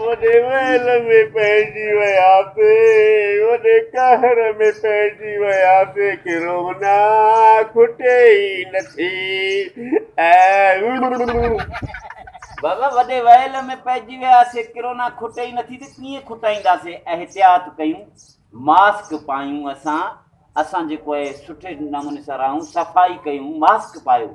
وڏي ويل ۾ پئجي وياسي وڏي قهر ۾ پئجي وياسي ڪرونا کٽي ئي نٿي بابا وڏي ويل ۾ پئجي وياسي ڪرونا کٽي ئي نٿي ته ڪيئن کٽائينداسي احتياط ڪيون ماسڪ پايون اسان اسان جيڪو آهي سٺي نموني سان رهون صفائي ڪيون ماسڪ پايو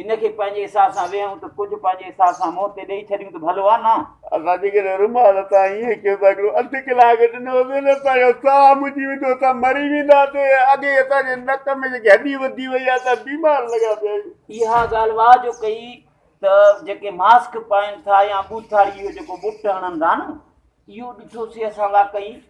ان کي پنهنجي حساب سان ويهون ته ڪجهه پنهنجي حساب سان منهن تي ڏئي ڇڏيون ته ڀلو آ نه. اسان جيڪڏهن رومال تان ائين ڪيون ته هڪڙو اڌ ڪلاڪ ڏنو هوندو نه اسان جو ساهه مچي ويندو اسان مري وينداسين اڳي ئي اسان جي نڪ ۾ جيڪي هڏي وڌي وئي آ اسان بيمار لڳا پيا آهيون. اها ڳالهه واهه جو ڪئي ته جيڪي ماسڪ پائين ٿا يا ٻوٿاڙي اهو جيڪو ٻٽ هڻن ٿا نه اهو ڏٺوسي اسان واقعي.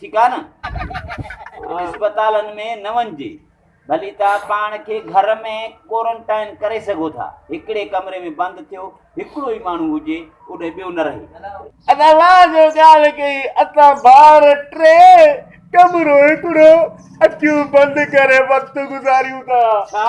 ٺيڪ آهي نه اسپتالن ۾ نه وڃجي ڀلي توهان پاڻ کي گهر ۾ ڪورنٽائن ڪري سگهو ٿا هڪڙي ڪمري ۾ بند ٿيو هڪڙو ئي ماڻهو هجي اڏي ٻيو نه رهي الله جو ڳالهه ڪئي اسان ٻار ٽي ڪمرو هڪڙو اکيون بند ڪري وقت گذاريون ٿا ڇا